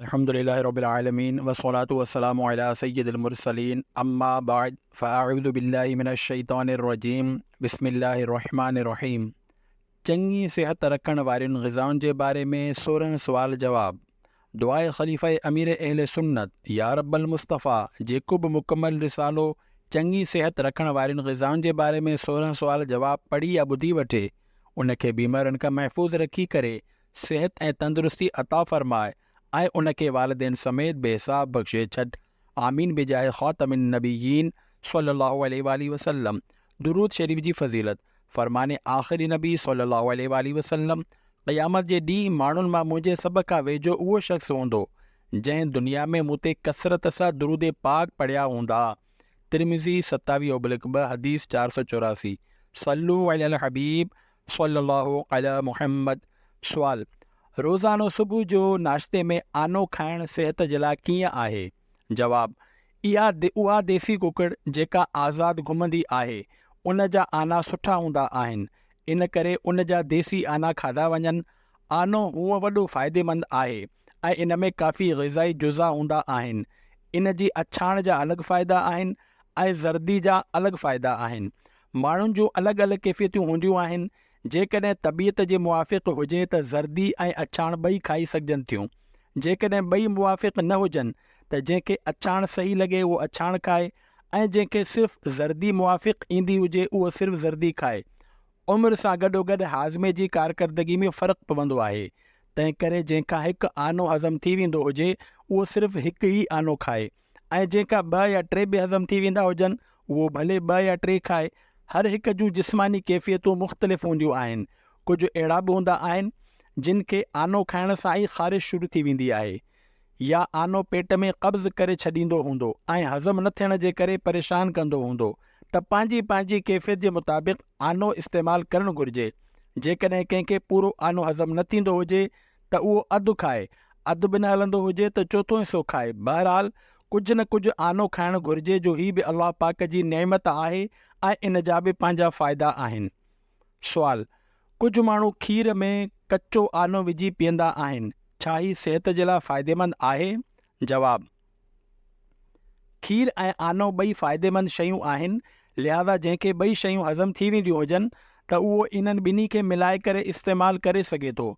الحمد لله رب العالمين والصلاة والسلام علي سيد المرسلين اما بعد فاعوذ بالله من الشيطان الرجيم بسم الله الرحمٰن الرحيم چڱي صحت رکڻ وارين غذائن جي باري ۾ سورهن سوال جواب دعاء خليفه امير اهل سنت يارب المصطفيٰ جيڪو به مڪمل رسالو چڱي صحت رکڻ وارين غذائن جي باري ۾ سورهن سوال جواب پڙهي يا ٻڌي وٺي ان کي بيمارين کان محفوظ رکي ڪري صحت ۽ تندرستي عطا فرماء ۽ ان کي والدين سميت بي حساب بخشي ڇڏ آمين بجاهه خاتم النبيين صلي الله عليه واٰله وسلم درود شريف جي فضيلت، فرمان آخر نبي صلي الله عليه واٰله وسلم، قيامت جي ڏينهن ماڻهن مان منهنجي سڀ کان ويجهو اهو شخص هوندو جنهن دنيا ۾ مون تي ڪثرت سان درود پاڪ پڙهيا هوندا ترمذي ستاويهه اوبلڪ ٻه حديث چار سؤ چوراسي صلو علی الحبيب صلّي اللّٰه عليٰ محمّد سوال، روزانو صبح جو ناشتي ۾ آنو کائڻ صحت جي لاء ڪيئن آهي؟ جواب، اها اها ديسي ڪڪڙ جيڪا آزاد گهمندي آهي ان جا آنا سٺا هوندا آهن ان ڪري ان جا ديسي آنا کاڌا وڃن، آنو هونء وڏو فائديمند آهي ۽ ان ۾ ڪافي غذائي جزا هوندا آهن، ان جي اڇاڻ جا الڳ فائدا آهن ۽ زردي جا الڳ فائدا آهن، ماڻهن جون الڳ الڳ ڪيفيتون هونديون آهن، جيڪڏهن طبيعت جي موافق هجي ته زردي ۽ اڇاڻ ٻئي کائي سگهجن ٿيون، جيڪڏهن ٻئي موافق نه هجن ته جنهن کي اڇاڻ صحيح لڳي اهو اڇاڻ کائي ۽ جنهن کي صرف زردي موافق ايندي هجي اهو صرف زردي کائي. عمر سان گڏوگڏ هاضمي جي ڪارڪردگي ۾ فرق پوندو آهي، تنهنڪري جنهن کان هڪ آنو هضم ٿي ويندو هجي اهو صرف هڪ ئي آنو کائي. ۽ جيڪا ٻه يا ٽي به هضم ٿي ويندا هجن، اهو ڀلي ٻه يا ٽي کائي. هر هڪ جون جسماني ڪيفيتون مختلف هونديون آهن. ڪجهه اهڙا به هوندا آهن، جن کي آنو کائڻ سان ئي خارش شروع ٿي ويندي آهي يا آنو پيٽ ۾ قبض ڪري ڇڏيندو هوندو ۽ هضم نه ٿيڻ جي ڪري پريشان ڪندو هوندو ته پنهنجي پنهنجي ڪيفيت جي مطابق آنو استعمال ڪرڻ گهرجي. جيڪڏهن ڪنهن کي پورو آنو هضم نه ٿيندو هجي ته اهو اڌ کائي، اڌ به نه هلندو هجي ته چوٿون حصو کائي، بهرحال ڪجهه نه ڪجهه آنو کائڻ گهرجي جو هي به الله پاڪ جي نعمت آهي ۽ ان جا به پنهنجا فائدا آهن. سوال، ڪجهه ماڻهو کير ۾ ڪچو آنو وجهي پيئندا آهن، ڇا هي صحت جي لاء فائديمند آهي؟ جواب، کير ۽ آنو ٻئي فائديمند شيون آهن، لهذا جنهن کي ٻئي شيون هضم ٿي وينديون هجن ته اهو انهن ٻنهي کي ملائي ڪري استعمال ڪري سگهي ٿو،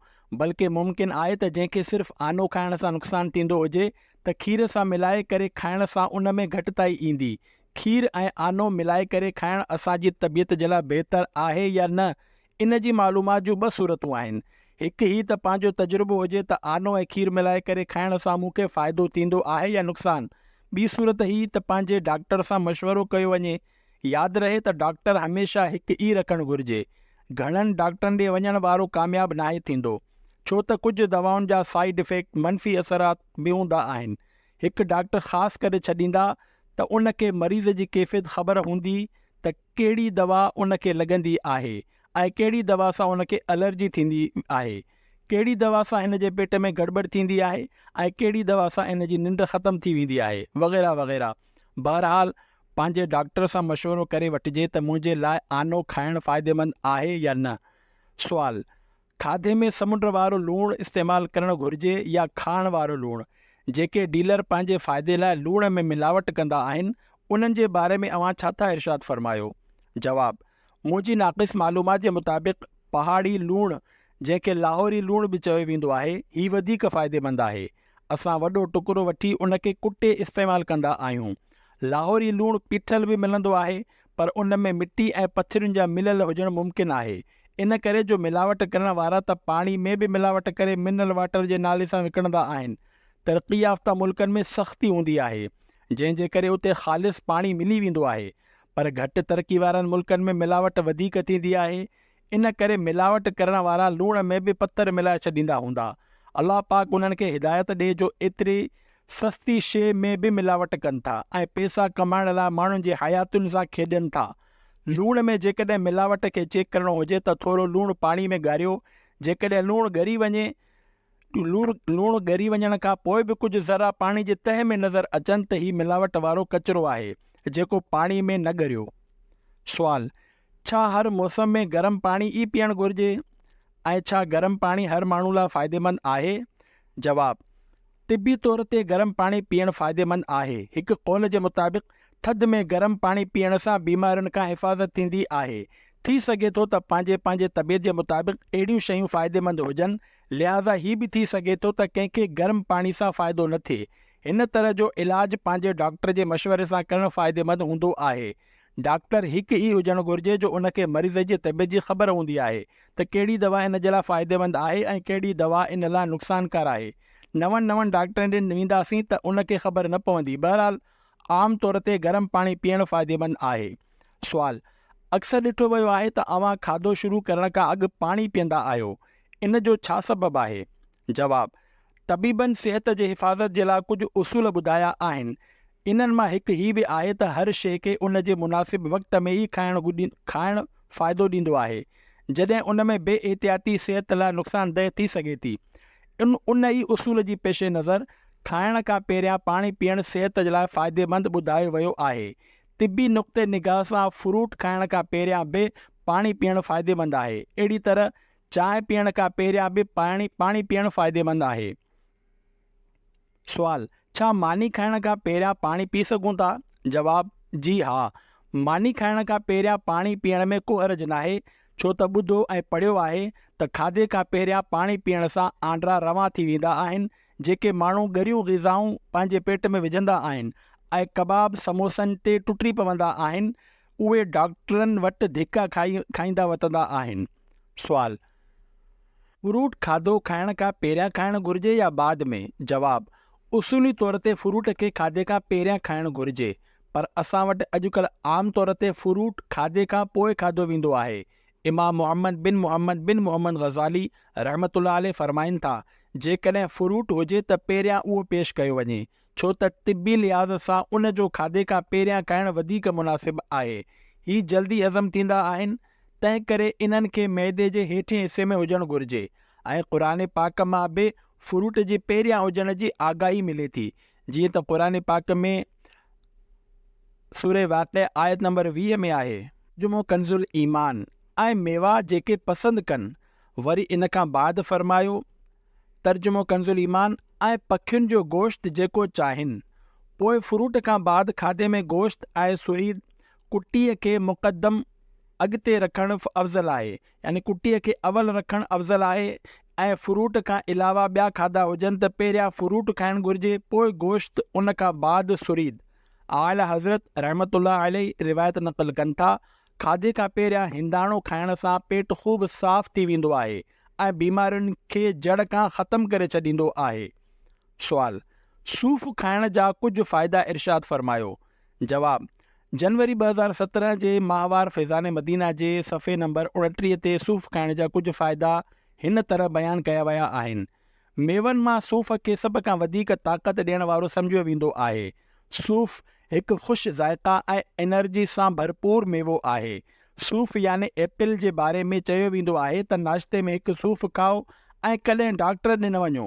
بلڪه ممڪن آهي ته جنهن کي صرف آنو کائڻ سان نقصان ٿيندو هجي ته کير سان ملائي ڪري کائڻ سان ان ۾ گهٽتائي ايندي. کير ۽ آنو ملائي ڪري کائڻ اسان جي طبيعت جي لاء بهتر آهي يا نه ان جي معلومات جون ٻه صورتون آهن، هڪ هي ته پنهنجو تجربو هجي ته آنو ۽ کير ملائي ڪري کائڻ سان مون کي فائدو ٿيندو آهي يا نقصان. ٻي صورت هي ته پنهنجي ڊاڪٽر سان مشورو ڪيو وڃي. ياد رهي ته ڊاڪٽر هميشه هڪ ئي رکڻ گهرجي. گهڻن ڊاڪٽرن ڏي وڃڻ وارو ڪامياب ناهي ٿيندو. ڇو ته ڪجهه دوائن جا سائيڊ افيڪٽ، منفي اثرات، به هوندا آهن. هڪ ڊاڪٽر خاص ڪري ڇڏيندا ته ان کي مريض جي ڪيفيت خبر هوندي ته ڪهڙي دوا ان کي لڳندي آهي ۽ ڪهڙي دوا سان ان کي الرجي ٿيندي آهي، ڪهڙي دوا سان هن جي پيٽ ۾ گڙٻڙ ٿيندي آهي ۽ ڪهڙي دوا سان هن جي ننڊ ختم ٿي ويندي آهي وغيره وغيره بهرحال پنهنجي ڊاڪٽر سان مشورو ڪري وٺجي ته منهنجي لاء آنو کائڻ فائديمند آهي يا نه سوال، کاڌي ۾ سمنڊ وارو لوڻ استعمال ڪرڻ گهرجي يا کاڻ وارو لوڻ. جيڪي ڊيلر پنهنجي فائدي لاء لوڻ ۾ ملاوٽ ڪندا آهن، انهن جي باري ۾ اوهان ڇا ٿا ارشاد فرمايو؟ جواب، منهنجي ناقص معلومات جي مطابق پهاڙي لوڻ جنهن کي لاهوري لوڻ به چيو ويندو آهي، هي وڌيڪ فائديمند آهي. اسان وڏو ٽڪرو وٺي ان کي ڪٽي استعمال ڪندا آهيون. لاهوري لوڻ پيٺل به ملندو آهي پر ان ۾ مٽي ۽ پٿرين جا مليل هجڻ ممڪن آهي. ان ڪري جو ملاوٽ ڪرڻ وارا ته پاڻي ۾ به ملاوٽ ڪري منرل واٽر جي نالي سان وڪڻندا آهن. ترقي يافته ملڪن ۾ سختي هوندي آهي جنهن جي ڪري اتي خالص پاڻي ملي ويندو آهي پر گهٽ ترقي وارن ملڪن ۾ ملاوٽ وڌيڪ ٿيندي آهي ان ڪري ملاوٽ ڪرڻ وارا لوڻ ۾ به پٿر ملائي ڇڏيندا هوندا الله پاڪ انهن کي هدايت ڏي جو ايتري سستي شيء ۾ به ملاوٽ ڪن ٿا ۽ پيسا ڪمائڻ لاء ماڻهن جي حياتين سان کيڏين ٿا لوڻ ۾ جيڪڏهن ملاوٽ کي چيڪ ڪرڻو هجي ته ٿورو لوڻ پاڻي ۾ ڳاريو، جيڪڏهن لوڻ ڳري وڃي، لوڻ ڳري وڃڻ کان پوء به ڪجهه ذرا پاڻي جي تهه ۾ نظر اچن ته هي ملاوٽ وارو ڪچرو آهي، جيڪو پاڻي ۾ نه ڳريو. سوال، ڇا هر موسم ۾ گرم پاڻي ئي پيئڻ گهرجي ۽ ڇا گرم پاڻي هر ماڻهو لاء فائديمند آهي؟ جواب، طبي طور تي گرم پاڻي پيئڻ فائديمند آهي. هڪ قول جي مطابق ٿڌ ۾ گرم پاڻي پيئڻ سان بيمارين کان حفاظت ٿيندي آهي. ٿي سگهي ٿو ته پنهنجي پنهنجي طبيعت جي مطابق اهڙيون شيون فائديمند هجن، لهٰذا هي به ٿي سگهي ٿو ته ڪنهن کي گرم پاڻي سان فائدو نه ٿئي. هن طرح جو علاج پنهنجي ڊاڪٽر جي مشوري سان ڪرڻ فائديمند هوندو آهي. ڊاڪٽر هڪ ئي هجڻ گهرجي جو ان کي مريض جي طبيعت جي خبر هوندي آهي ته ڪهڙي دوا ان جي لاء فائديمند آهي ۽ ڪهڙي دوا ان لاء نقصانڪار آهي. نون نون ڊاڪٽرن ڏي وينداسين ته ان کي خبر نه پوندي. بهرحال عام طور تي گرم پاڻي پيئڻ فائديمند آهي. سوال، اڪثر ڏٺو ويو آهي ته اوهان کاڌو شروع ڪرڻ کان اڳ پاڻي پيئندا آهيو. ان جو ڇا سبب آهي؟ جواب، طبيبن صحت جي حفاظت جي لاء ڪجهه اصول ٻڌايا آهن. انهن مان هڪ هي به آهي ته هر شيء کي ان جي مناسب وقت ۾ ئي کائڻ کائڻ فائدو ڏيندو آهي، جڏهن ان ۾ بي احتياطي صحت لاء نقصاندهه ٿي سگهي ٿي. ان ان ئي اصول جي پيش نظر کائڻ کان پهريان پاڻي پيئڻ صحت جي لاء فائديمند ٻڌايو ويو آهي. طبي نقطه نگاهه سان فروٽ کائڻ کان پهريان به پاڻي پيئڻ فائديمند آهي. اهڙي طرح چانهه پيئڻ کان پهريان به پاڻي پاڻي پيئڻ فائديمند آهي. سوال، ڇا ماني کائڻ کان پهريان پاڻي پي سگهون ٿا؟ جواب، جي ها. ماني کائڻ کان پهريان پاڻي پيئڻ ۾ ڪو حرج ناهي، ڇو ته ٻڌو ۽ پڙهيو آهي ته کاڌي کان پهريان پاڻي پيئڻ سان آنڊرا روان ٿي ويندا آهن، جيڪي ماڻهو ڳريون غذائون پنهنجي پيٽ ۾ وجهندا آهن ۽ ڪباب سموسن تي ٽٽي پوندا آهن، اهي ڊاڪٽرن وٽ ڌڪا کائي کائيندا وتندا آهن. سوال، فروٽ کاڌو کائڻ کان پهريان کائڻ گهرجي يا بعد ۾؟ جواب، اصولي طور تي فروٽ کي کاڌي کان پهريان کائڻ گهرجي پر اسان وٽ اڄڪلهه عام طور تي فروٽ کاڌي کان پوء کاڌو ويندو آهي. امام محمد بن محمد بن محمد غزالي رحمة الله عليه فرمائن ٿا، جيڪڏهن فروٽ هجي ته پهريان اهو پيش ڪيو وڃي ڇو ته طبي لحاظ سان ان جو کاڌي کان پهريان کائڻ وڌيڪ مناسب آهي. هي جلدي هضم ٿيندا آهن، تنهنڪري انهن کي معدي جي هيٺين حصي ۾ هجڻ گهرجي ۽ قرآن پاڪ مان به فروٽ جي پهريان هجڻ جي آگاهي ملي ٿي، جيئن ته قرآن پاڪ ۾ سوره واقعه آيت نمبر ويهه ۾ آهي. جمعو ڪنزالإيمان ۽ ميوا جيڪي پسند ڪن، وري ان کان بعد فرمايو. ترجمو ڪنزالايمان، ۽ پکين جو گوشت جيڪو چاهين. پوء فروٽ کان بعد کاڌي ۾ گوشت ۽ سوئي ڪٽيء کي مقدم، اڳتي، رکڻ افضل آهي، يعني ڪٽيء کي اول رکڻ افضل آهي ۽ فروٽ کان علاوه ٻيا کاڌا هجن ته پهريان فروٽ کائڻ گهرجي پوء گوشت ان کان بعد سريد. اعليٰ حضرت رحمة الله عليه روايت نقل ڪن ٿا، کاڌي کان پهريان هنداڻو کائڻ سان پيٽ خوب صاف ٿي ويندو آهي ۽ بيمارين کي جڙ کان ختم ڪري ڇڏيندو آهي. سوال، صوف کائڻ جا ڪجهه فائدا ارشاد فرمايو. جواب، جنوري ٻه هزار سترهن جي ماهوار فيضان مدينه جي صفحي نمبر اڻٽيهه تي صوف کائڻ جا ڪجهه فائدا هن طرح بيان ڪيا ويا آهن، ميون مان صوف کي سڀ کان وڌيڪ طاقت ڏيڻ وارو سمجهيو ويندو آهي. صوف هڪ خوش ذائقه ۽ انرجي سان ڀرپور ميوو آهي. صوف يعني ايپل جي باري ۾ چيو ويندو آهي ته ناشتي ۾ هڪ صوف کائو ۽ ڪڏهن ڊاڪٽر ڏي نه وڃو.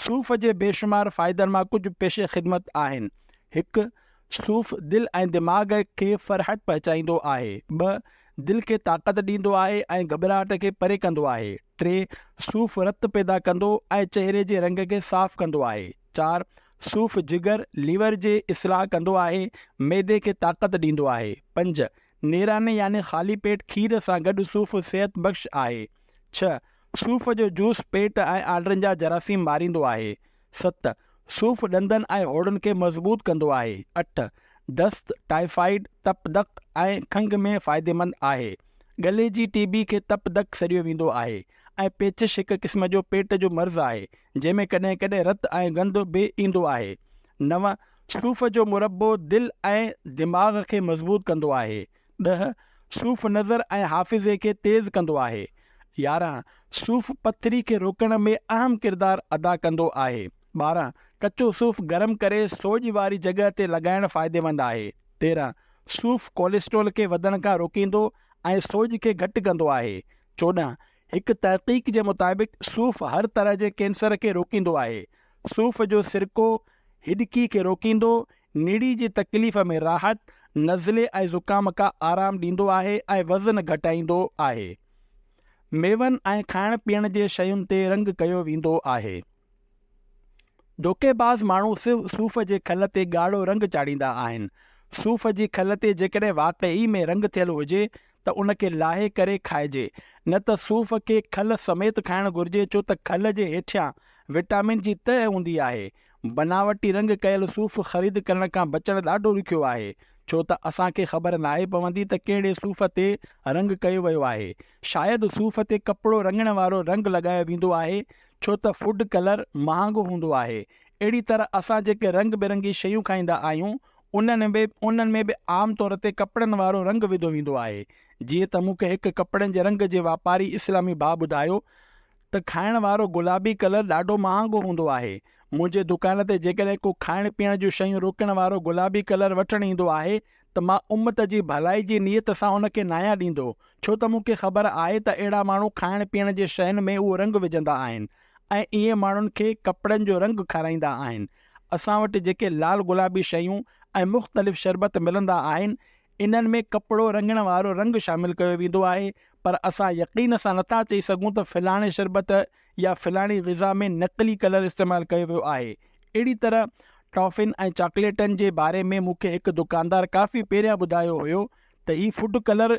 صوف جي بيشمار فائدن مان ڪجهه پيش خدمت آهن، هڪ صوف دل ۽ دماغ کي فرحت پهچائيندو آهي، ٻه دل کي طاقت ڏيندو آهي ۽ گهٻراهٽ کي پري ڪندو آهي. ٽي، صوف رت پيدا ڪندو ۽ چهري جي رنگ کي صاف ڪندو آهي. چار، صوف جگر، ليور، جي اصلاح ڪندو آهي، معدي کي طاقت ڏيندو آهي. پنج، نيراني يعني خالي پيٽ کير سان گڏ صوف صحت بخش آهي. ڇهه، صوف جو جوس پيٽ ۽ آنڊرن جا جراثيم ماريندو آهي. ست، صوف ڏندن ۽ هوڙن کي مضبوط ڪندو آهي. اٺ، دست، ٽائيفائيڊ، تپ دق ۽ کنگهه ۾ فائديمند آهي. ڳلي جي ٽي بي کي تپ دق سڏيو ويندو آهي ۽ پيچش هڪ قسم جو پيٽ جو مرض آهي جنهن ۾ ڪڏهن ڪڏهن رت ۽ گند به ايندو آهي. نو، صوف جو مربو دل ۽ دماغ کي مضبوط ڪندو آهي. ڏهه، صوف نظر ۽ حافظي کي تيز ڪندو آهي. يارهن، صوف پٿري کي روڪڻ ۾ اهم ڪردار ادا ڪندو آهي. ٻارهن، ڪچو صوف گرم ڪري سوڄ واري جڳهه تي لڳائڻ فائديمند آهي. تيرهن، صوف ڪوليسٽرول کي وڌڻ کان روڪيندو ۽ سوڄ کي گهٽ ڪندو آهي. چوڏهن، هڪ تحقيق جي مطابق صوف هر طرح جي ڪينسر کي روڪيندو آهي. صوف جو سرڪو هڏڪي کي روڪيندو نڙي جي تڪليف ۾ راحت، نزلي ۽ زڪام کا آرام ڏيندو آهي ۽ وزن گهٽائيندو آهي. ميون ۽ کائڻ پيئڻ جي شين تي رنگ ڪيو ويندو آهي. ڌوڪيباز ماڻهو صرف صوف جي کل تي ڳاڙهو رنگ چاڙهيندا آهن. صوف جي کل تي جيڪڏهن واقعي ۾ رنگ ٿيل هجي ته ان کي لاهي ڪري کائجي، نه ته صوف کي کل سميت کائڻ گهرجي ڇو ته کل جي هيٺيان وٽامن جي تهه هوندي آهي بناوٽي رنگ ڪيل صوف خريد ڪرڻ کان بچڻ ڏاڍو ڏکيو آهي، ڇو ته اسان کي خبر ناهي پوندي ته ڪهڙي صوف تي رنگ ڪيو ويو آهي. شايد صوف تي ڪپڙو رڱڻ وارو رنگ لڳايو ويندو آهي، ڇو ته فوڊ ڪلر مهانگو هوندو آهي. اهڙي طرح اسان جيڪي رنگ برنگي شيون کائيندا آهيون، انهن ۾ به عام طور تي ڪپڙن وارو رنگ وڌو ويندو آهي. جيئن ته مون کي هڪ ڪپڙن جي رنگ جي واپاري اسلامي ڀاء ٻڌايو ته، ته کائڻ وارو گلابي ڪلر ڏاڍو مهانگو هوندو آهي. منهنجي دڪان تي جيڪڏهن ڪو کائڻ پيئڻ جون شيون روڪڻ وارو گلابي ڪلر وٺڻ ايندو آهي ته مان امت جي ڀلائي جي نيت سان ان کي ناهيان ڏيندو ڇو ته مون کي خبر آهي ته اهڙا ماڻهو کائڻ پيئڻ جي شين ۾ اهو رنگ وجهندا آهن ۽ ائين ماڻهن کي ڪپڙن جو رنگ کارائيندا آهن. اسان وٽ جيڪي لال گلابي شيون ۽ مختلف شربت ملندا آهن انهن ۾ ڪپڙو رڱڻ وارو رنگ شامل ڪيو ويندو آهي، پر اسان يقين سان نٿا چئي سگهون ته فلاڻي شربت يا فلاڻي غذا ۾ نقلي ڪلر استعمال ڪيو ويو آهي. اهڙي طرح ٽافين ۽ چاڪليٽن جي باري ۾ مون کي هڪ دڪاندار ڪافي پهريان ٻڌايو هيو ته هي فوڊ ڪلر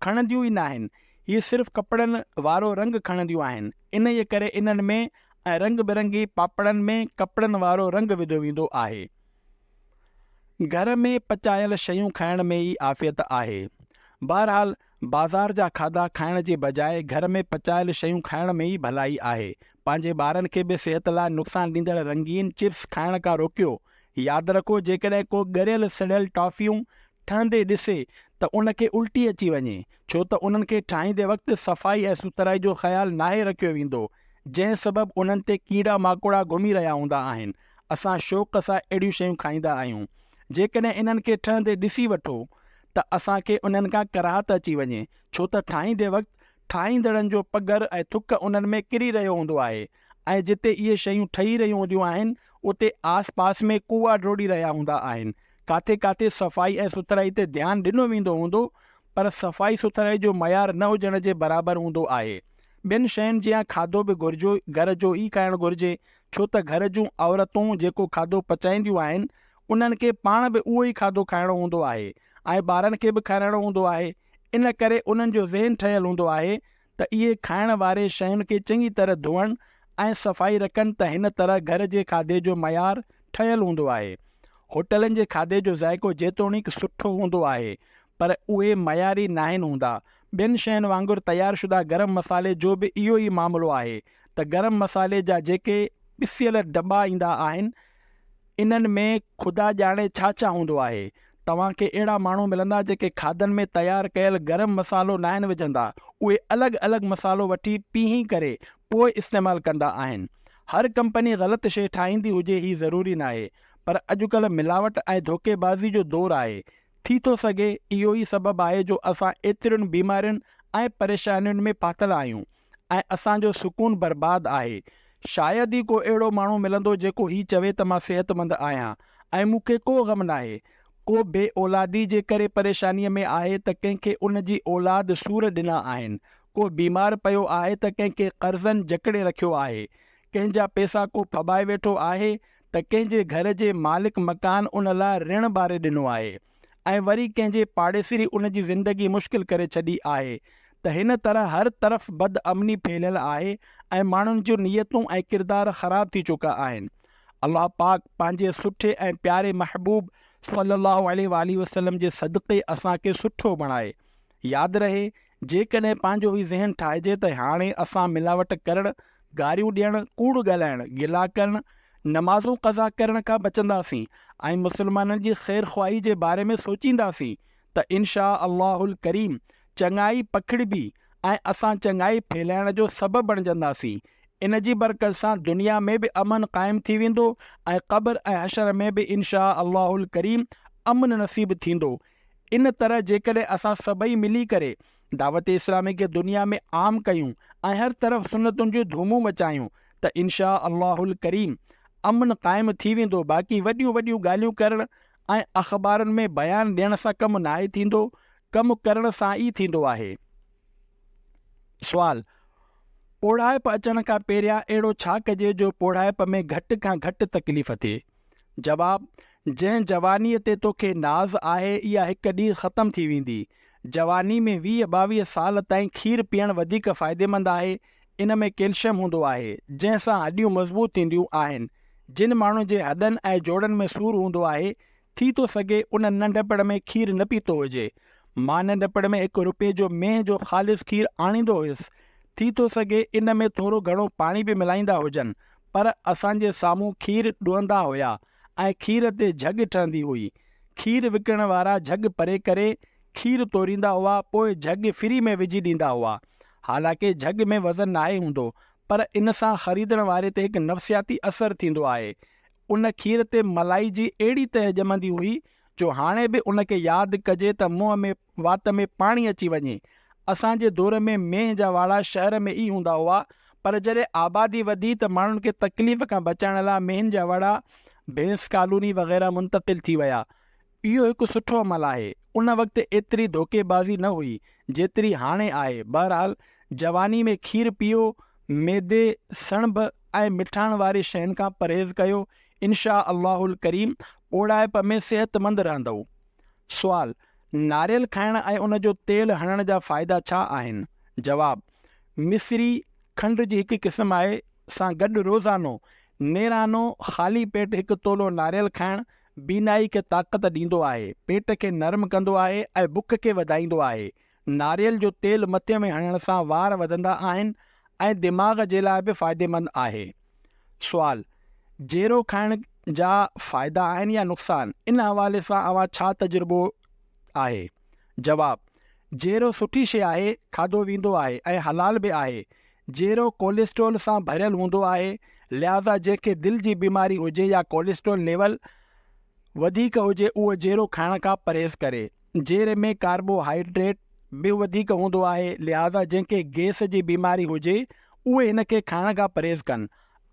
کڻنديون ئي ناهن، هي صرف ڪپڙن وارو رنگ کڻنديون آهن، انهيء ڪري انهن ۾ ۽ رنگ برنگي پاپڙن ۾ ڪپڙن وارو رنگ وڌو ويندو آهي. گهر ۾ پچايل شيون کائڻ ۾ ئي عافيت آهي. بهرحال بازار جا کاڌا کائڻ جي بجاء گهر ۾ پچايل شيون کائڻ ۾ ئي ڀلائي آهي. پنهنجي ٻارن کي به صحت لاء نقصان ڏيندڙ رنگين چپس کائڻ کان روڪيو. ياد رکو جيڪڏهن ڪو ڳريل سڙيل ٽافيون ٺهندي ڏسي ته ان کي الٽي اچي وڃي ڇو ته انهن کي ٺاهيندي وقت صفائي ۽ سٿرائي جو خيال ناهي رکيو ويندو جنهن سبب انهن تي ڪيڙا ماڪوڙا گهمي رهيا هوندا آهن اسان شوق سان اهڙيون شيون کائيندا آهيون. جيڪڏهن انهن کي ٺهندي ڏسي وٺو ته اسان کي انهن کان ڪراهت اچي وڃي ڇو ته ٺاهيندي وقت ٺاهيندڙن جو پگهر ۽ ٿڪ انهن ۾ ڪري رهيو هوندو آهي ۽ جتي اهي شيون ٺهي رهيون هونديون آهن اتي آس پاس ۾ ڪوئا ڊوڙي رهيا هوندا آهن ڪاٿي ڪاٿي صفائي ۽ سٿرائي تي ڌيان ڏنو ويندو هوندو پر صفائي سٿرائي جو معيار نه هجڻ جي برابر هوندو آهي ٻين شين جيان کاڌو به گهرجو گهر جو ئي کائڻ گهرجي ڇو ته گهر جون عورتون جيڪو کاڌو پچائينديون آهن، انهن کي پاڻ به اهو ئي کاڌو کائڻو هوندو آهي ۽ ٻارن کي به کارائڻو هوندو آهي. ان ڪري انهن جو ذهن ٺهيل هوندو آهي ته اهي کائڻ واري شين کي چڱي طرح ڌوئڻ ۽ صفائي رکن ته هن طرح گهر جي کاڌي جو معيار ٺهيل هوندو آهي. هوٽلن جي کاڌي جو ذائقو جيتوڻيڪ سٺو هوندو آهي پر اهي معياري ناهن هوندا. ٻين شين وانگر تيار شده گرم مصالحي جو به اهو ئي معاملو آهي ته گرم مصالحي جا جيڪي پسيل ڊٻا ايندا آهن انهن ۾ خدا ڄاڻي ڇا ڇا هوندو آهي. توهان کي اهڙا ماڻهو ملندا جيڪي کاڌن ۾ تيار ڪيل گرم مصالحو ناهن وجهندا. اهي الڳ الڳ مصالحو وٺي پيهي ڪري پوء استعمال ڪندا آهن. هر ڪمپني غلط شي ٺاهيندي هجي هي ضروري ناهي پر اڄڪلهه ملاوٽ ۽ ڌوڪي بازي جو دور آهي ٿي ٿو سگهي اهو ئي سبب آهي جو اسان ايترين بيمارين ۽ پريشانين ۾ ڦاٿل آهيون ۽ اسان جو سڪون برباد آهي. شايد ئي ڪو اهڙو ماڻهو ملندو جيڪو هي چوي ته مان صحتمند آهيان ۽ مون کي ڪو غم ناهي. ڪو بي اولادي جي ڪري پريشانيء ۾ آهي ته ڪنهن کي ان جي اولاد سور ڏنا آهن. ڪو بيمار پيو آهي ته ڪنهن کي قرضن جڪڙي رکيو آهي. ڪنهن جا پيسا ڪو ڦٻائي ويٺو آهي ته ڪنهن جي گهر جي مالڪ مڪان ان لاء رڻ ٻاري ڏنو آهي ۽ وري ڪنهن جي پاڙيسري ان جي زندگي مشڪل ڪري ڇڏي آهي ته هن طرح هر طرف بد امني ڦهليل آهي ۽ ماڻهن جون نيتون ۽ ڪردار خراب ٿي چڪا آهن الله پاڪ پنهنجي سٺي ۽ پياري محبوب صلّي اللّٰه عليه واٰله وسلّم جي صدقي اسان کي سٺو بڻائي ياد رهي جيڪڏهن پنهنجو ئي ذهن ٺاهجي ته هاڻي اسان ملاوٽ ڪرڻ، گاريون ڏيڻ، ڪوڙ ڳالهائڻ، گلا ڪرڻ، نمازون قضا ڪرڻ کان بچنداسين ۽ مسلمانن جي خير خواهي جي باري ۾ سوچينداسين ته انشاء الله الڪريم چڱائي پکڙبي ۽ اسان چڱائي ڦهلائڻ جو سبب بڻجنداسين. ان جي برڪت سان دنيا ۾ به امن قائم ٿي ويندو ۽ قبر ۽ حشر ۾ به انشاء الله الڪريم امن نصيب ٿيندو. ان طرح جيڪڏهن اسان سڀئي ملي ڪري دعوت اسلامي کي دنيا ۾ عام ڪيون ۽ هر طرف سنتن جون ڌومون مچايون ته انشاء الله الڪريم امن قائم ٿي ويندو باقي وڏيون وڏيون ڳالهيون ڪرڻ ۽ اخبارن ۾ بيان ڏيڻ سان ڪم ناهي ٿيندو ڪم ڪرڻ سان ئي ٿيندو آهي. سوال، پوڙهائپ اچڻ کان پهريان اهڙو ڇا ڪجي جو پوڙهائپ ۾ گهٽ کان گهٽ تڪليف ٿئي؟ جواب، جنهن جوانيء تي توکي ناز آهي اها هڪ ڏينهن ختم ٿي ويندي. جواني ۾ ويهه ٻاويهه سال تائين کير پيئڻ وڌيڪ فائديمند آهي. ان ۾ ڪيلشم هوندو آهي، جنهن سان هڏيون مضبوط ٿينديون آهن. جن ماڻهن جي هڏن ۽ جوڙن ۾ سور هوندو آهي، ٿي ٿو سگهي انهن ننڍپڻ ۾ کير نه پيتو هجي. مان ننڍپڻ ۾ هڪ روپيه جو مينهن جو خالص کير آڻيندو هيس. ٿي ٿو سگهي ان ۾ ٿورو گهڻو پاڻي به ملائيندا هجن، پر اسان جي سامهون کير ڏوندا هيا ۽ کير تي جهڳ ٺهندي هئي. کير وڪڻڻ وارا جهڳ پري ڪري کير توريندا هئا پوء جهڳ فري ۾ وجهي ڏيندا هئا. حالانڪه جهڳ ۾ وزن ناهي هوندو پر ان سان خريدڻ واري تي هڪ نفسياتي اثر ٿيندو آهي. ان کير تي ملائي جي اهڙي تهه ڄمندي هئي جو هاڻي به ان کي ياد ڪجي ته منهن ۾ وات ۾ پاڻي اچي وڃي. اسان جي دور ۾ مينهن جا واڙا شهر ۾ ئي هوندا هئا پر جڏهن آبادي وڌي ته ماڻهن کي تڪليف کان بچائڻ لاء مينهن جا وڙا بينس ڪالوني وغيره منتقل ٿي ويا. اهو هڪ سٺو عمل آهي. ان وقت ايتري ڌوڪي بازي نه هئي جيتري هاڻي آهي. بهرحال جواني ۾ کير پيئو، ميدي، سڻڀ ۽ مٺاڻ واري شين کان پرهيز ڪيو، انشاء الله الڪريم ٻوڙائپ ۾ صحتمند رهندؤ. سوال، ناريل کائڻ ۽ ان جو تيل هڻڻ جا فائدا ڇا آهن؟ جواب، مصري کنڊ جي هڪ قسم آهي سان گڏ روزانو نيرانو خالي پيٽ هڪ تولو ناريل کائڻ بينائي کي طاقت ڏيندو آهي، پيٽ کي نرم ڪندو آهي ۽ بک کي وڌائيندو آهي. ناريل جو تيل مٿي ۾ هڻڻ سان وار وڌندا آهن ۽ دماغ جي لاء به فائديمند آهي. سوال، جيرو کائڻ جا فائدا آهن يا نقصان؟ ان حوالي سان اوهان ڇا تجربو آهي؟ جواب، جيرو سٺي شي آهي، کاڌو ويندو آهي ۽ حلال به آهي. جيرو ڪوليسٽرول سان ڀريل هوندو آهي، لهذا جنهن کي دل جي بيماري هجي يا ڪوليسٽرول ليول وڌيڪ هجي اهو جيرو کائڻ کان پرهيز ڪري. جيري ۾ ڪاربو هائيڊريٽ به وڌيڪ هوندو آهي لهذا جنهن کي گئس جي بيماري هجي اهي هن کي کائڻ کان پرهيز ڪن.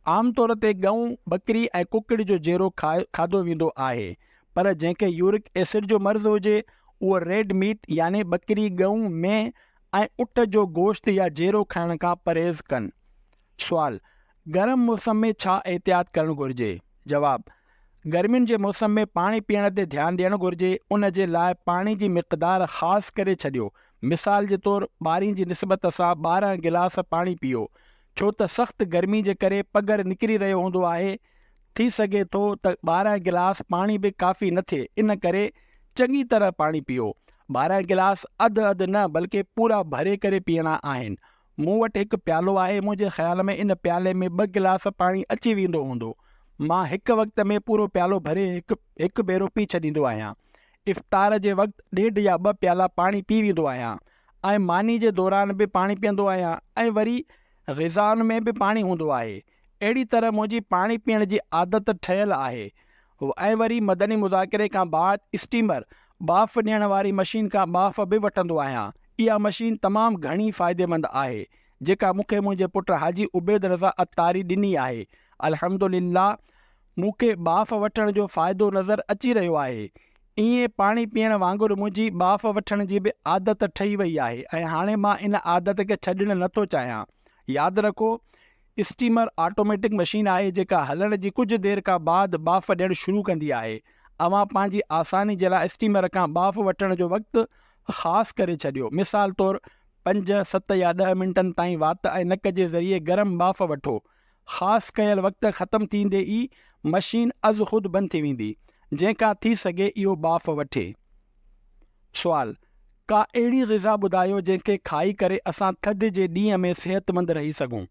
عام طور تي ڳئون، ٻڪري ۽ ڪڪڙ جو جيرو کاڌو ويندو آهي پر جنهن کي يورڪ ايسڊ جو مرض هجي اهو ريڊ ميٽ يعني ٻڪري، ڳئون، مينهن ۽ اٺ جو گوشت يا جيرو کائڻ کان پرهيز ڪن. سوال، گرم موسم ۾ ڇا احتياط ڪرڻ گهرجي؟ جواب، گرمين جي موسم ۾ پاڻي پيئڻ تي ڌيان ڏيڻ گهرجي، ان جي لاء پاڻي جي مقدار خاص ڪري ڇڏيو، مثال جي طور ٻارين جي نسبت سان ٻارهن گلاس پاڻي پيئو، ڇو ته سخت گرمي جي ڪري پگهر نڪري رهيو هوندو آهي، ٿي سگهي ٿو ته ٻارهن گلاس پاڻي به ڪافي نه ٿئي، ان ڪري چڱي طرح پاڻي پيئو، ٻارهن گلاس اڌ اڌ نه بلڪه پورا ڀري ڪري پيئڻا آهن، مون وٽ هڪ پيالو آهي، منهنجي خيال ۾ ان پيالي ۾ ٻه گلاس پاڻي اچي ويندو هوندو. مان هڪ وقت ۾ پورو پيالو ڀري هڪ هڪ ڀيرو پي ڇڏيندو آهيان. افطار جي وقت ڏيڍ يا ٻه پيالا پاڻي پي ويندو آهيان ۽ ماني جي دوران به پاڻي پيئندو آهيان ۽ وري غذائن ۾ به پاڻي هوندو آهي. اهڙي طرح منهنجي پاڻي پيئڻ جي عادت ٺهيل آهي ۽ وري مدني مذاڪري کان بعد اسٽيمر، ٻاڦ ڏيڻ واري مشين، کان ٻاڦ به وٺندو آهيان. اها مشين تمام گهڻي فائديمند آهي، جيڪا مون کي منهنجي پٽ حاجي عبيد رضا عطاري ڏني آهي. الحمدلله مون کي ٻاڦ وٺڻ جو فائدو نظر اچي رهيو آهي. ايئن پاڻي پيئڻ وانگر منهنجي ٻاڦ وٺڻ جي به عادت ٺهي وئي آهي ۽ هاڻي مان ان عادت کي ڇڏڻ نه ٿو چاهيان. ياد رکو اسٽيمر آٽوميٽڪ مشين آهي جيڪا هلڻ جي ڪجهه دير کان بعد ٻاڦ ڏيڻ شروع ڪندي آهي. اوهان پنهنجي آساني جي لاء اسٽيمر کان ٻاڦ وٺڻ جو وقت خاص ڪري ڇڏيو. مثال طور پنج، ست يا ڏهه منٽن تائين وات ۽ نڪ جي ذريعي گرم ٻاڦ وٺو. خاص ڪيل وقت ختم ٿيندي ئي مشين ازخود بند ٿي ويندي، جنهن کان ٿي سگهي اهو ٻاڦ وٺي. سوال، ڪا اهڙي غذا ٻڌايو جنهن کي کائي ڪري اسان ٿڌ جي ڏينهن ۾ صحتمند رهي سگهون.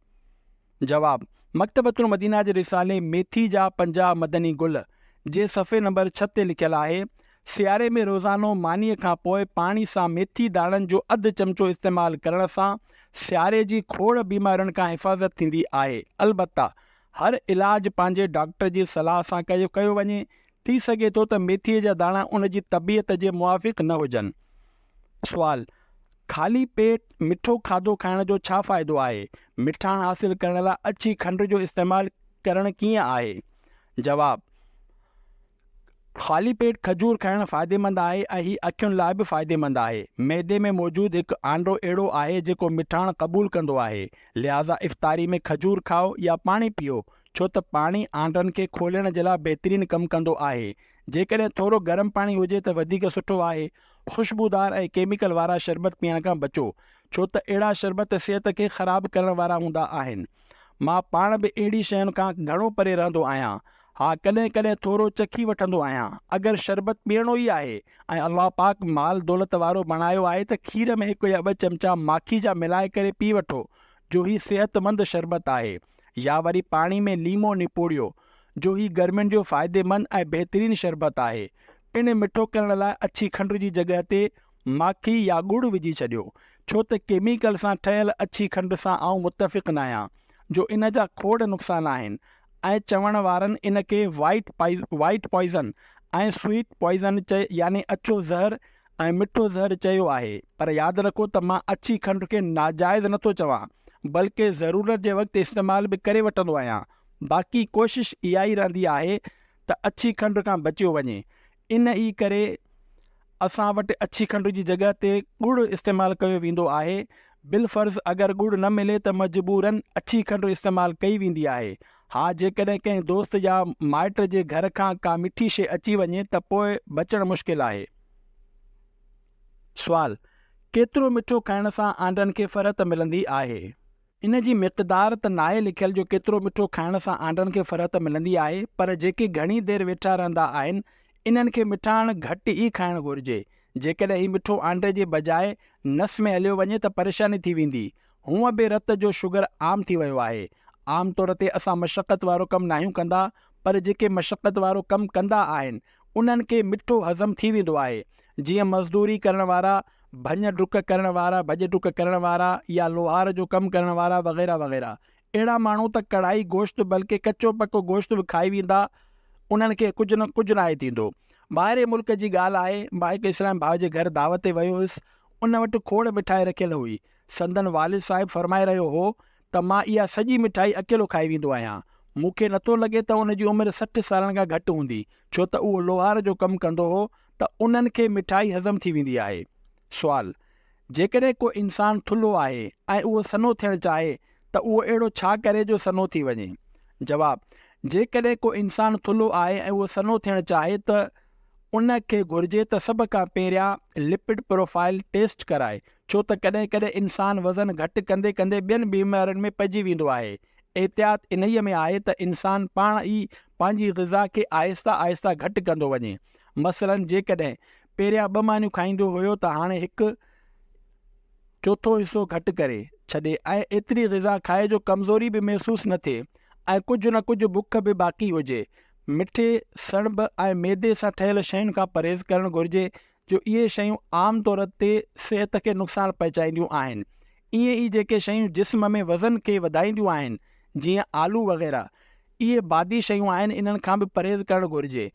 جواب، مڪتبة المدينه جي رسالي ميٿي جا پنجاهه مدني گل جي صفحي نمبر ڇهه تي لکيل آهي، سياري ۾ روزانو مانيء کان پوء پاڻي سان ميٿي داڻن جو اڌ چمچو استعمال ڪرڻ سان سياري جي کوڙ بيمارين کان حفاظت ٿيندي آهي البته هر علاج پنهنجي ڊاڪٽر جي صلاح سان ڪيو ڪيو وڃي ٿي سگهي ٿو ته ميٿيء جا داڻا ان جي طبيعت جي موافق نه هجن. سوال، خالي پيٽ مٺو کاڌو کائڻ جو ڇا فائدو آهي؟ مٺاڻ حاصل ڪرڻ لاء اڇي کنڊ جو استعمال ڪرڻ ڪيئن آهي؟ جواب، خالي پيٽ کجور کائڻ فائديمند آهي ۽ هي اکين لاء به فائديمند آهي. معدي ۾ موجود هڪ آنڊو اهڙو آهي جيڪو مٺاڻ قبول ڪندو آهي، لهذا افطاري ۾ کجور کائو يا پاڻي پيئو، ڇو ته پاڻي آنڊن کي کولڻ جي لاء بهترين ڪم ڪندو آهي. جيڪڏهن ٿورو گرم پاڻي هجي ته وڌيڪ سٺو آهي. خوشبودار ۽ ڪيميڪل وارا شربت پيئڻ کان بچو ڇو ته اهڙا شربت صحت کي خراب ڪرڻ وارا هوندا آهن. مان پاڻ به اهڙي شين کان گهڻو پري رهندو آهيان. ها ڪڏهن ڪڏهن ٿورو چکي وٺندو آهيان. اگر شربت پيئڻو ئي آهي ۽ الله پاڪ مال دولت وارو بڻايو آهي ته کير ۾ هڪ يا ٻه چمچا ماکي جا ملائي ڪري پي وٺو جو هي صحت مند شربت آهي. يا وري پاڻي ۾ ليمو نپوڙيو جو هي گرمين جو فائديمند ۽ بهترين شربت آهي. پڻ مٺو ڪرڻ لاء اڇي کنڊ جي جڳهه تي ماکي يا ڳڙ وجهي ڇڏيو. ڇو ته ڪيميڪل سان ٺهيل اڇي کنڊ سان آئون متفق ناهيان جو ان جا کوڙ نقصان آهن ۽ چوڻ وارن ان کي white poison, White Poison، ۽ sweet poison چئي يعني اڇو زهر ۽ مٺو زهر چيو آهي پر ياد رکو ته مان اڇي کنڊ کي ناجائز نٿو چوان بلڪه ضرورت جي وقت استعمال به ڪري وٺندو آهيان باقي ڪوشش اها ئي رهندي آهي ته اڇي کنڊ کان بچيو وڃي ان ئي ڪري اسان وٽ اڇي کنڊ جي جڳهه تي ڳڙ استعمال ڪيو ويندو آهي بالفرض اگر ڳڙ نه ملي ته مجبورن اڇي کنڊ استعمال ڪئي ويندي آهي ها جيڪڏهن ڪنهن دوست يا مائٽ جي گهر کان ڪا مٺي شيء اچي وڃي ته پوء بچڻ مشڪل آهي. سوال، ڪيترو مٺو کائڻ سان آنڊن کي فرحت ملندي آهي؟ ان جي مقدار ته ناهي لکيل جو ڪيترو مٺو کائڻ سان آنڊن کي فرحت ملندي آهي پر جيڪي گهڻي دير ويٺا رهندا آهن انهن کي مٺاڻ گهٽ ئي کائڻ گهرجي جيڪڏهن هي مٺو آنڊي جي بجاء نس ۾ هليو وڃي ته پريشاني ٿي ويندي هونء به رت جو شگر عام ٿي ويو آهي. عام طور تي اسان مشقت وارو ڪم ناهيون ڪندا پر جيڪي مشقت وارو ڪم ڪندا آهن انهن کي مٺو هضم ٿي ويندو آهي. جيئن مزدوري ڪرڻ وارا، ڀڃ ڊڪ ڪرڻ وارا، ڀڄ ڊڪ ڪرڻ وارا يا لوهار جو ڪم ڪرڻ وارا وغيره وغيره. اهڙا ماڻهو ته ڪڙهائي گوشت بلڪه ڪچو پڪو گوشت به کائي ويندا انهن کي ڪجهه نه ڪجهه ناهي ٿيندو. ٻاهرين ملڪ جي ڳالهه آهي مان هڪ اسلامي ڀاء جي گهر دعوت تي ويو هيس ان وٽ کوڙ مٺائي رکيل هئي. سندن والد صاحب فرمائي رهيو هو ته مان اها سڄي مٺائي اڪيلو کائي ويندو آهيان. مون کي نه ٿو لڳي ته ان جي عمر سٺ سالن کان گهٽ هوندي، ڇو ته اهو لوهار جو ڪم ڪندو هو ته انهن کي مٺائي هضم ٿي ويندي آهي. سوال، جيڪڏهن ڪو انسان ٿلهو آهي ۽ اهو سنهو ٿيڻ چاهي ته اهو اهڙو ڇا ڪري جو سنهو ٿي وڃي؟ جواب، جيڪڏهن ڪو انسان ٿلهو آهي ۽ اهو سنهو ٿيڻ چاهي ته ان کي گهرجي ته سڀ کان پهريان لپڊ پروفائيل ٽيسٽ ڪرائي ڇو ته ڪڏهن ڪڏهن انسان وزن گهٽ ڪندي ڪندي ٻين بيمارين ۾ پئجي ويندو آهي. احتياط انهيء ۾ آهي ته انسان پاڻ ئي پنهنجي غذا کي آهستي آهستي گهٽ ڪندو وڃي. مثلاً جيڪڏهن پهريان ٻه مانيون کائيندو هيو ته هاڻي هڪ چوٿون حصو گهٽ ڪري ڇڏي ۽ ايتري غذا کائي جو ڪمزوري به محسوس نه ٿئي ۽ ڪجهه نه ڪجهه بک به باقي هجي. مٺي، سڻڀ ۽ ميدي سان ٺهيل شين کان پرهيز ڪرڻ گهرجي جو اهي شيون عام طور تي صحت کي نقصان پهچائينديون آهن. ائين ئي جيڪي شيون جسم ۾ وزن کي وڌائينديون آهن جيئن آلو وغيره اهي بادي شيون آهن انهن کان به پرهيز ڪرڻ گهرجي.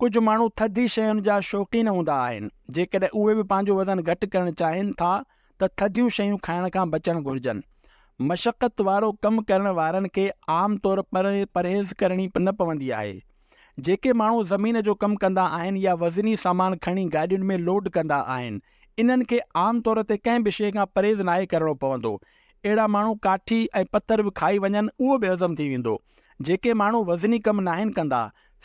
ڪجهه ماڻهو ٿڌي شين جا شوقين هوندا آهن جيڪڏهن اهي به پنهنجو وزن گهٽ ڪرڻ چاهين ٿا ته ٿڌيون شيون کائڻ کان بچڻ گهرجن. مشقت وارو ڪم ڪرڻ وارن کي عام طور پرهيز ڪرڻي نه پوندي آهي. جيڪي ماڻهو زمين جو ڪم ڪندا آهن يا وزني سامان کڻي گاڏين ۾ لوڊ ڪندا آهن، انهن کي عام طور تي ڪنهن به شيء کان پرهيز ناهي ڪرڻو پوندو. اهڙا ماڻهو ڪاٺي ۽ پٿر به کائي وڃن، اهو به هضم ٿي ويندو. جيڪي ماڻهو وزني ڪم ناهن ڪندا،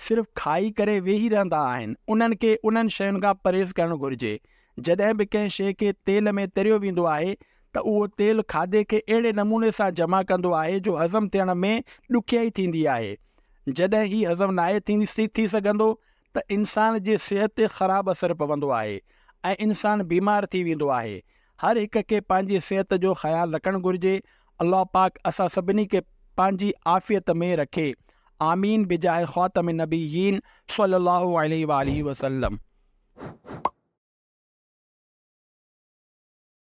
صرف کائي ڪري ويهي رهندا آهن، انهن کي انهن شين کان پرهيز ڪرڻ گهرجي. جڏهن به ڪنهن شيء کي تيل ۾ تريو ويندو آهي ته اهو تيل کاڌي کي اهڙي نموني سان جمع ڪندو آهي جو هضم ٿيڻ ۾ ڏکيائي ٿيندي آهي. جڏهن هي هضم ناهي ٿي سگهندو ته انسان جي صحت تي خراب اثر پوندو آهي ۽ انسان بيمار ٿي ويندو آهي. هر هڪ کي پنهنجي صحت جو خيال رکڻ گهرجي. الله پاڪ اسان سڀني کي پنهنجي عافيت ۾ رکي. آمين بجاهه خاتم النبيين صلي الله عليه واٰله وسلم.